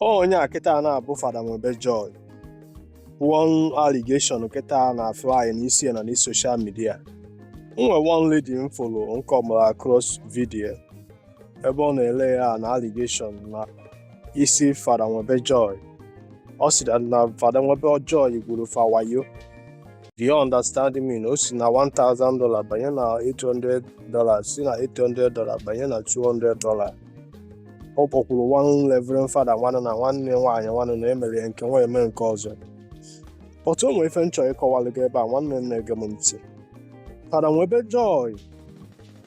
ọ onye a kịta na-abụ Fada Nwebe Joy one allegation kịta na-afly n'isi ya na n'isi social media nwe one lady m folo nke ọmara across video ebe ọ na-elay an allegation na isi Fada Nwebe Joy ọ sị na- na Fada Nwebe Joy gwuru fa wayo Do you understand me? Na o si na $1,000 banye na $800, si na $800 banye na $200. ọ kpọkwuru one reverend fada nwa na nwanne nwaanyị nwanụ na e mere ya nke nwa eme nke ọzọ but o nwere ife m chọrọ ịkọwalụ gị ebe a nwanne m na-ege m ntị fada nwebe joy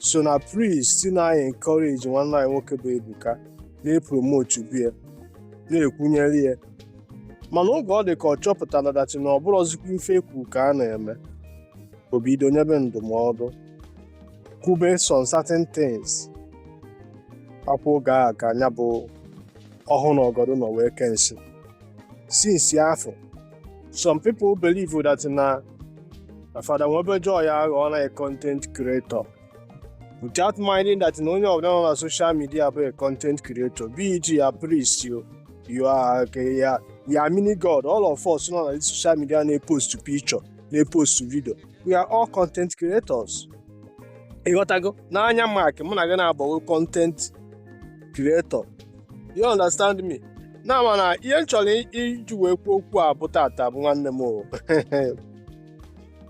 so na priests na-encourage nwanne anyị nwoke bụ ebuka na-epromotubu ya na-ekwunyere ya mana oge ọ dị ka ọ chọpụtara that na ọ bụrọzikwa ife e kwu ka a na-eme o bido nyebe ndụmọdụ kwube some certain things akwụ oge a ka nya bụ ọhụụ na ọgọdụ nọ wee kee nsi since afụ some people believe that na na fada nwebe joy aghọọna a content creator without minding that na onye ọbụla nọ na social media bụ a content creator be it you are priest o you are ka ya ya mini god all of us nọ na social media na-epost picture na-epost video we are all content creators ị ghọtago n'anya mark mụ na gị na-abụgo content creator you understand me na ama na ihe m chọrọ iji wee kwuo okwu a bụ tata bụ nwanne m o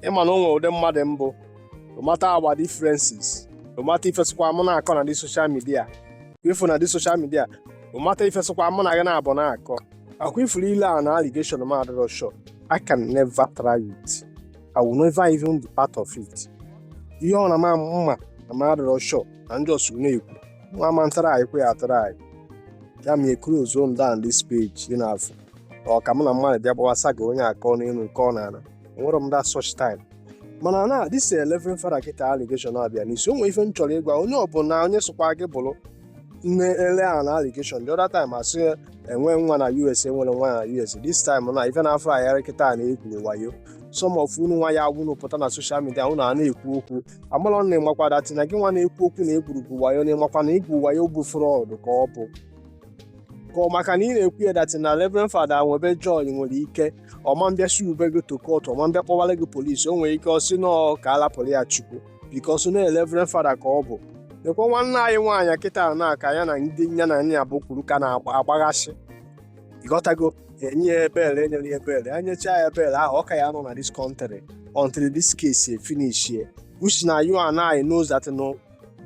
ị ma na o nwere ụdị mmadụ m bụ no matter our differences no matter ife ọ sịkwa mụ na-akọ na the social media ị fụ na the social media no matter ife ọ sịkwa mụ na gị na-abụ na-akọ akwa ifuru ịlay an allegation m adịrọ sure I can never try it. I will never even be part of it. Ihe ọ na ma mma na ma adịrọ sure na ndị ọsụ na-ekwu nwa ma ntara anyị kwe ya tara anyị ya ma ekuru ozo m down this page dị n'afọ ọ ka mụ na mmadụ bịa gbawasa gị onye akọ n'elu nke ọ na-ana enwerọ m that such time mana na this reverend fada kịta allegation a bịa n'isi o nwere ife m chọrọ ịgwa onye ọbụla onye sokwa gị bụrụ na-elay an allegation the other time a sị o nwe nwa na us o nwere nwa na us this time na ife na-afọ ayara kịta na o gwuru wayo some of unu nwa ya agwụnụ pụta na social media unu a na-ekwu okwu amalọ na ị makwa that na gị nwa na-ekwu okwu na o gwuru wayo na ị makwa na igwu wayo bụ fraud ka ọ bụ ka ọ maka na ị na-ekwu ya that na reverend fada nwebe joy nwere ike ọ ma bịa sue-be gị to court ọ ma bịa kpọwara gị polisi o nwere ike ọ sị nọọ ka a lapụrụ ya chukwu because na Reverend Fada ka ọ bụ lekwa nwanne anyị nwaanyị kịta na ka ya na ndị ya na ya bụ kwuru ka na-agbaghasị ịghọtago e nye ya bail e nyere ya bail e nyecha ya bail ahụ ọ ka ya-anọ na this country until this case finish you see na you and I knows that na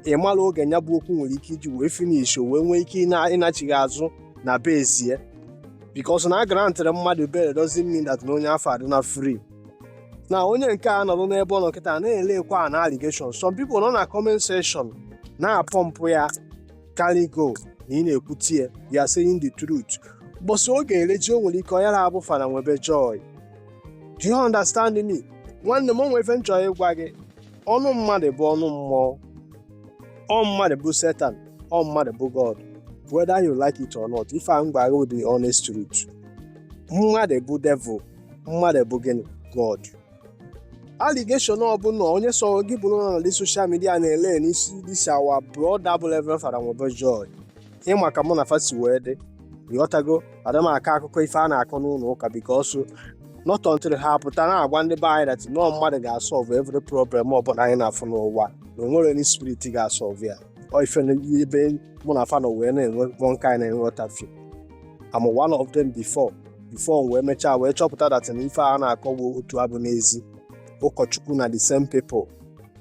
ị marọ oge ya bụ okwu nwere ike iji wee finish wee nwee ike ịna- ịnachigha azụ na bezie because na a grantịrị mmadụ bail doesn't mean that na onye afụ adị na free na onye nke a nọrọ n'ebe ọ nọ kịta na-elekwa an allegation some people nọ na comment section na-apọmpụ ya carry go na ị na-ekwute ya you are saying the truth mbọsị ọ ga-eru gị o nwere ike ọ yara abụ Fada Nwebe Joy do you understand me nwanne m o nwe ife m chọrọ ịgwa gị ọnụ mmadụ bụ ọnụ mmụọ ọ mmadụ bụ Satan ọ mmadụ bụ God whether you like it or not ife a m gwara gị bụ the honest truth mmadụ bụ devil mmadụ bụ gịnị God allegation ọbụla onye sọ gị bụrụ na this social media na-ele n'isi this our brother bụ Reverend Fada Nwebe Joy ị ma ka mụ na fa si wee dị ịghọtago ada m akọ akụkọ ife a na-akọ n'ụlọ ụka because not until ha pụta na-agwa ndị be anyị that na ọ mmadụ ga-asọlve every problem ọbụla anyị na-afụ n'ụwa na o nwerọ any spirit ga-asọlve ya ọ ife na- ebe mụ na fa nọ wee na-enwe kpọ nke anyị na-enwe ọtafio am one of them before before wee mechaa wee chọpụta that na ife a na-akọwa otu a bụ n'ezi ụkọchukwu na the same people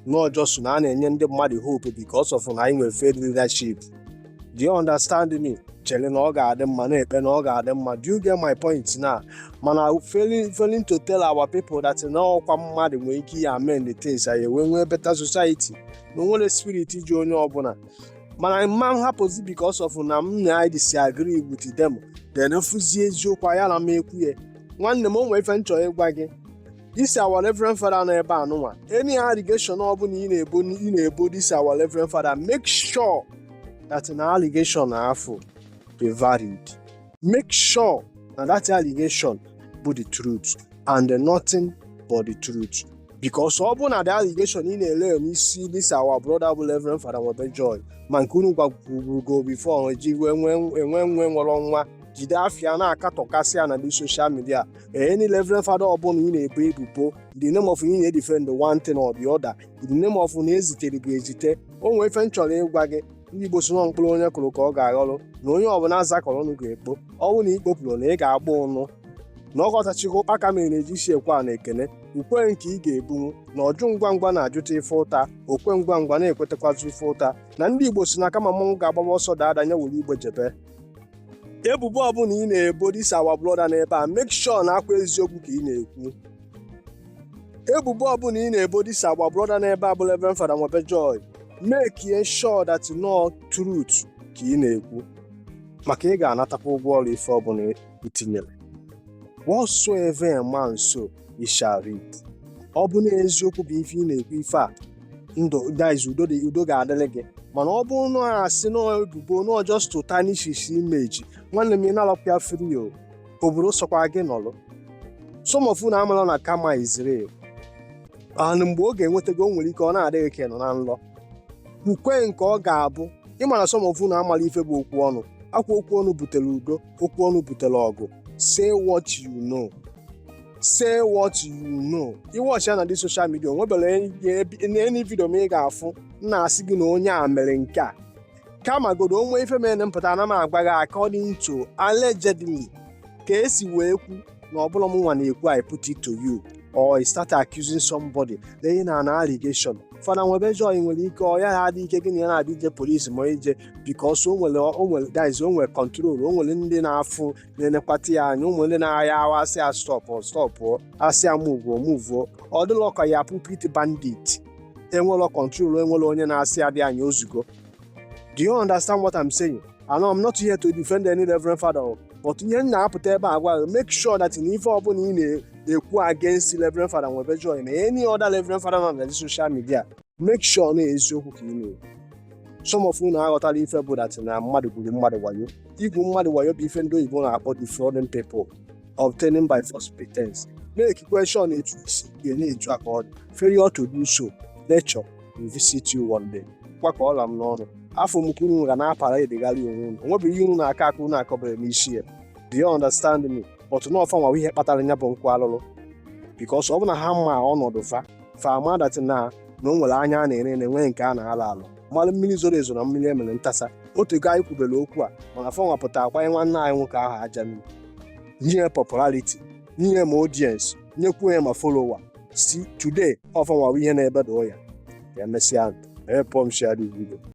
nọ just na a na-enye ndị mmadụ hope because of na anyị nwere failed leadership do you understand me chere na ọ ga-adị mma na-ekpe na ọ ga-adị mma do you get my point na mana failing failing to tell our people that na ọkwa mmadụ nwere ike ya amend the things anyị wee nwee better society na o nwerọ spirit ji onye ọbụla mana m ma hapụzi because of na m na anyị disagree with them then fụzie eziokwu ayara m ekwu ya nwanne m o nwee ife m chọrọ ịgwa gị this our reverend father nọ ebe a nụnwa any allegation ọbụla ị na-ebo ị na-ebo this our reverend father make sure that na allegation afụ dị valid make sure na that allegation bụ the truth and nothing but the truth because ọ bụrụ na the allegation ị na-ele n'isi this our brother bụ Reverend Fada Nwebe Joy ma nke unu gwagwurugo before eji wee nwee enwe nwe nwere nwa jide afịa na-akatọkasị ya na this social media any Reverend Fada ọbụla ị na-ebo ebubo in the name of ị na-edefend one thing or the other in the name of na e zitere gị ezite o nwee ife m chọrọ ịgwa gị ndị Igbo sị na ọ mkpụrụ onye kụrụ ka ọ ga-aghọrọ na onye ọbụla zakọrọ ọnụ ga-ekpo ọ bụ na ị kpopụrọ na ị ga-agba ụnụ na ọkọtachikwa ụkpaka mere na-eji isi ekwe a na ekene ukwu nke ị ga-ebunwu na ọjụ ngwa ngwa na-ajụta ife ụta okwe ngwa ngwa na-ekwetakwazi ife ụta na ndị Igbo sị na kama mmanwụ ga-agbaba ọsọ daa ada nya were igbe jebe ebubo ọbụla ị na-ebo this our brother n'ebe a make sure na ọkwa eziokwu ka ị na-ekwu ebubo ọbụla ị na-ebo this agba brọda n'ebe a bụ reverend fada nwebe joy mekie sure that na ọ truth ka ị na-ekwu maka ị ga-anatakwa ụgwọ ọrụ ife ọbụla i tinyere whatsoever a man sow he shall reap ọ bụ na eziokwu bụ ife ị na-ekwu ife a ndị guys udo dị udo ga-adịrị gị mana ọ bụrụ na ọ asị na ọ ebubo na ọ just to tarnish his image nwanne m ị na-alakwa free o obodo sọkwa gị nọlụ some of unu amala na karma is real and mgbe ọ ga-enweta gị o nwere ike ọ na-adịghị ka ị nọ na nlọ kwukwe nke ọ ga-abụ ịmara some of unu amala ife bụ okwu ọnụ ọ kwa okwu ọnụ butere udo okwu ọnụ butere ọgụ say what you know say what you know ị wọchi ya na the social media o nwebere any video m ị ga-afụ m na-asị gị na onye a mere nke a kama godo o nwee ife mere m pụta ana m agwa gị according to allegedly ka e si wee kwu na ọ bụla m nwa na-ekwu I put it to you or I start accusing somebody na ihe na na allegation fada nwebe joy nwere ike ọ ya adị ike gị na ya na-adị ije polisi ma ije because o nwere o nwere guys o nwere control o nwere ndị na-afụ na-enekwata ya anya o nwere ndị na-ahịa ahụ asị ya stọpụ stọpụ asị ya muvuo muvuo ọ dịla ka pulpit bandit enwere control enwere onye na-asị adị anyị o zugo do you understand what I'm saying I know I'm not here to defend any reverend father o, but ihe m na-apụta ebe a gwa gị, make sure that na ife ọbụla ị na-ekwu against reverend father nwebe joy na any other reverend father nọ na the social media make sure na eziokwu ka ị na-ekwu some of unu aghọtara ife bụ that na mmadụ gwuru mmadụ wayo igwu mmadụ wayo bụ ife ndị oyibo na-akpọ defrauding people obtaining by false pretense make question etu isi gị na-etu aka ọ dị failure to do so nature will visit you one day kwakọ ọla m n'ọnụ afọ m ka unu ga na-aparadegharị onwe unu o nwebeghị ihe unu na-aka aka unu akọbere m isi ya do you understand me but na ọ fa nwa ihe kpatara ya bụ nkwa alụlụ because ọ bụ na ha ma ọnọdụ fa fa amadatị na na o nwere anya a na-ere ere nwee nke a na-alọ alọ mara mmiri zoro ezo na mmiri e mere ntasa o tego anyị kwubere okwu a mana fa nwa pụta agbanye nwanne anyị nwoke ahụ aja nri nye ya popularity nye ya ma audience nyekwuo ya ma followers today ọ fa nwa bụ ihe na-ebedo ya ka emesịa help m share the video